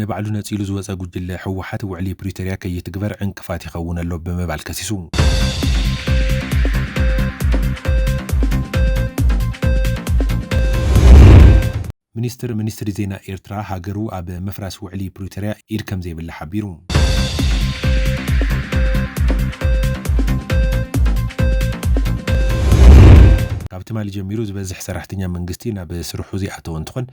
ንባዕሉ ነፂሉ ዝወፀ ጉጅለ ህወሓት ውዕሊ ፕሪቶርያ ከይትግበር ዕንቅፋት ይኸውን ኣሎ ብምባል ከሲሱ። ሚኒስትር ሚኒስትሪ ዜና ኤርትራ ሃገሩ ኣብ ምፍራስ ውዕሊ ፕሪቶርያ ኢድ ከምዘይብላ ሓቢሩ። ካብ ትማሊ ጀሚሩ ዝበዝሕ ሰራሕተኛ መንግስቲ ናብ ስርሑ ዘይኣተወ እንትኾን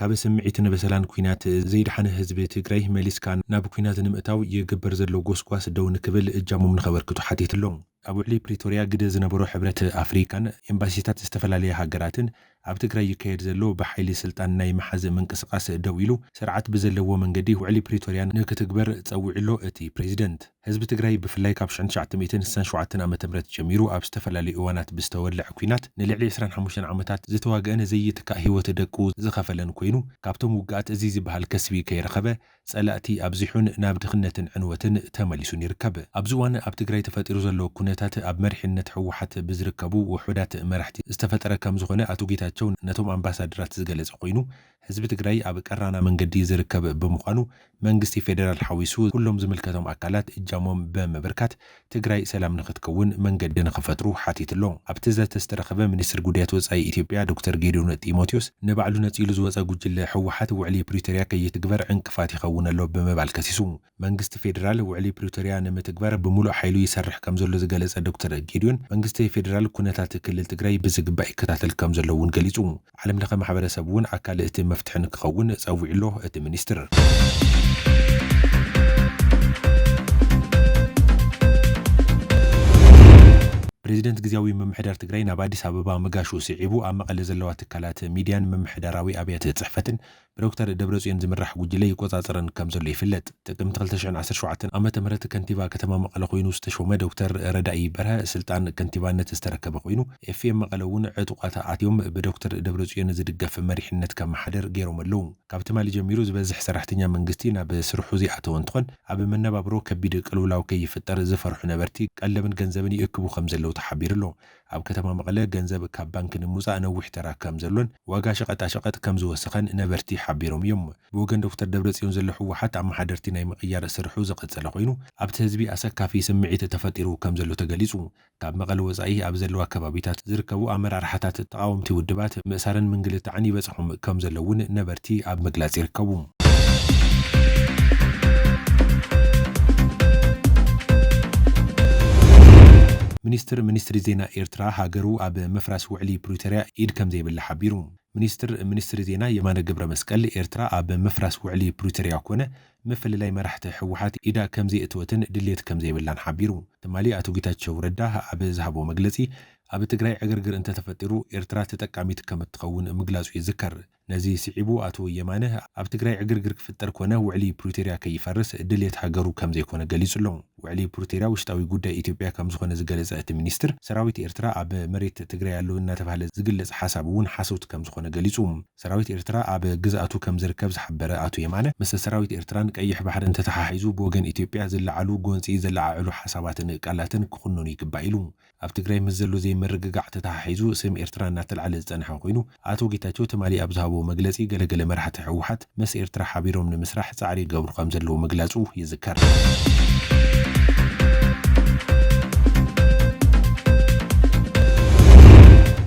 ካብ ስምዒትን በሰላን ኲናት ዘይደሓነ ህዝቢ ትግራይ መሊስካ ናብ ኲናት ንምእታው ይግበር ዘሎ ጎስጓስ ደው ንክብል እጃሞም ንኸበርክቱ ሓቲቱ'ሎ። ኣብ ውዕሊ ፕሪቶርያ ግደ ዝነበሮ ሕብረት ኣፍሪካን ኤምባሲታት ዝተፈላለያ ሃገራትን ኣብ ትግራይ ይካየድ ዘሎ ብሓይሊ ስልጣን ናይ ምሓዝ ምንቅስቓስ ደው ኢሉ ስርዓት ብዘለዎ መንገዲ ውዕሊ ፕሪቶርያ ንክትግበር ፀዊዑ'ሎ እቲ ፕሬዚደንት። ህዝቢ ትግራይ ብፍላይ ካብ ሽሕን ትሽዓተ ሚእትን ስሳን ሸውዓተን ዓመተ ምህረት ጀሚሩ ኣብ ዝተፈላለዩ እዋናት ብዝተወለዐ ኲናት ንልዕሊ ዕስራን ሓሙሽተን ዓመታት ዝተዋገኣን ዘይትካእ ህይወት ደቁ ዝኸፈለን ኮይኑ ካብቶም ውግኣት እዙይ ዝብሃል ከስቢ ከይረኸበ ፀላእቲ ኣብዚሑን ናብ ድኽነትን ዕንወትን ተመሊሱን ይርከብ። ኣብዚ እዋን ኣብ ትግራይ ተፈጢሩ ዘሎ ኩነታት ኣብ መሪሕነት ህወሓት ብዝርከቡ ውሑዳት መራሕቲ ዝተፈጠረ ከምዝኾነ ኣቶ ጌታቸው ነቶም ኣምባሳደራት ዝገለፀ ኮይኑ ህዝቢ ትግራይ ኣብ ቀራና መንገዲ ዝርከብ ብምዃኑ መንግስቲ ፌደራል ሓዊሱ ኩሎም ዝምልከቶም ኣካላት እጃሞም ብምብርካት ትግራይ ሰላም ንኽትከውን መንገዲ ንኽፈጥሩ ሓቲቱ ኣሎ። ኣብቲ ዘተ ዝተረኸበ ሚኒስትር ጉዳያት ወፃኢ ኢትዮጵያ ዶክተር ጌዲዮን ጢሞቴዎስ ንባዕሉ ነፂሉ ዝወፀ ጉጅለ ህወሓት ውዕሊ ፕሪቶሪያ ከይትግበር ዕንቅፋት ይኸውን ኣሎ ብምባል ከሲሱ። መንግስቲ ፌዴራል ውዕሊ ፕሪቶሪያ ንምትግባር ብሙሉእ ሓይሉ ይሰርሕ ከምዘሎ ዝገለፀ ዶክተር ጌዲዮን፣ መንግስቲ ፌዴራል ኩነታት ክልል ትግራይ ብዝግባእ ይከታተል ከምዘሎ እውን ገሊፁ። ዓለም ለኸ ማሕበረሰብ እውን ኣካል እቲ መፍትሒ ንክኸውን ፀዊዑ ኣሎ እቲ ሚኒስትር። ፕሬዚደንት ግዝያዊ ምምሕዳር ትግራይ ናብ ኣዲስ ኣበባ ምጋሹ ስዒቡ ኣብ መቐለ ዘለዋ ትካላት ሚዲያን ምምሕዳራዊ ኣብያተ ፅሕፈትን ብዶክተር ደብረፅዮን ዝምራሕ ጉጅለ ይቆፃፀረን ከምዘሎ ይፍለጥ። ጥቅምቲ ክልተ ሽሕን ዓሰርተ ሸውዓተን ዓመተ ምህረት ከንቲባ ከተማ መቐለ ኮይኑ ዝተሾመ ዶክተር ረዳኢ በርሀ ስልጣን ከንቲባነት ዝተረከበ ኮይኑ ኤፍኤም መቐለ እውን ዕጡቋት ኣትዮም ብዶክተር ደብረፅዮን ዝድገፍ መሪሕነት ከመሓድር ገይሮም ኣለው። ካብ ትማሊ ጀሚሩ ዝበዝሕ ሰራሕተኛ መንግስቲ ናብ ስርሑ ዘይኣተወ እንትኾን ኣብ መነባብሮ ከቢድ ቅልውላው ከይፍጠር ዝፈርሑ ነበርቲ ቀለብን ገንዘብን ይእክቡ ከምዘለው ተሓቢሩ ኣሎ። ኣብ ከተማ መቐለ ገንዘብ ካብ ባንኪ ንምውፃእ ነዊሕ ተራ ከም ዘሎን ዋጋ ሸቐጣሸቐጥ ከም ዝወሰኸን ነበርቲ ሓቢሮም እዮም። ብወገን ዶክተር ደብረፅዮን ዘሎ ህወሓት ኣመሓደርቲ ናይ ምቕያር ስርሑ ዝቐፀለ ኮይኑ ኣብቲ ህዝቢ ኣሰካፊ ስምዒት ተፈጢሩ ከም ዘሎ ተገሊፁ። ካብ መቐለ ወፃኢ ኣብ ዘለዋ ከባቢታት ዝርከቡ ኣመራርሓታት ተቓወምቲ ውድባት ምእሳርን ምንግልታዕን ይበፅሖም ከም ዘሎ እውን ነበርቲ ኣብ ምግላፅ ይርከቡ። ሚኒስትር ሚኒስትሪ ዜና ኤርትራ ሃገሩ ኣብ ምፍራስ ውዕሊ ፕሪቶርያ ኢድ ከምዘይብላ ሓቢሩ። ሚኒስትር ሚኒስትሪ ዜና የማነ ገብረመስቀል ኤርትራ ኣብ ምፍራስ ውዕሊ ፕሪቶርያ ኮነ ምፍልላይ መራሕቲ ህወሓት ኢዳ ከምዘየእተወትን ድሌት ከምዘይብላን ሓቢሩ። ትማሊ ኣቶ ጌታቸው ረዳ ኣብ ዝሃቦ መግለጺ ኣብ ትግራይ ዕግርግር እንተተፈጢሩ ኤርትራ ተጠቃሚት ከምትኸውን ምግላጹ ይዝከር። ነዚ ስዒቡ ኣቶ የማነ፣ ኣብ ትግራይ ዕግርግር ክፍጠር ኮነ ውዕሊ ፕሪቶርያ ከይፈርስ ድልየት ሃገሩ ከምዘይኮነ ገሊጹ'ሎ። ውዕሊ ፕሪቶርያ ውሽጣዊ ጉዳይ ኢትዮጵያ ከምዝኾነ ዝገለጸ እቲ ሚኒስትር፣ ሰራዊት ኤርትራ ኣብ መሬት ትግራይ ኣሎ እናተብሃለ ዝግለጽ ሓሳብ እውን ሓሶት ከምዝኾነ ገሊጹ። ሰራዊት ኤርትራ ኣብ ግዝኣቱ ከምዝርከብ ዝሓበረ ኣቶ የማነ፣ ምስ ሰራዊት ኤርትራን ቀይሕ ባሕርን ተተሓሒዙ ብወገን ኢትዮጵያ ዝለዓሉ ጎንጺ ዘለዓዕሉ ሓሳባትን ቃላትን ክኹነኑ ይግባእ ኢሉ። ኣብ ትግራይ ምስ ዘሎ ዘይምርግጋዕ ተተሓሒዙ ስም ኤርትራ እናተልዓለ ዝፀንሐ ኮይኑ ኣቶ ጌታቸው ትማሊ ኣብ ዝሃቦ መግለፂ ገለገለ መራሕቲ ህወሓት ምስ ኤርትራ ሓቢሮም ንምስራሕ ፃዕሪ ይገብሩ ከምዘለዉ ምግላፁ ይዝከር።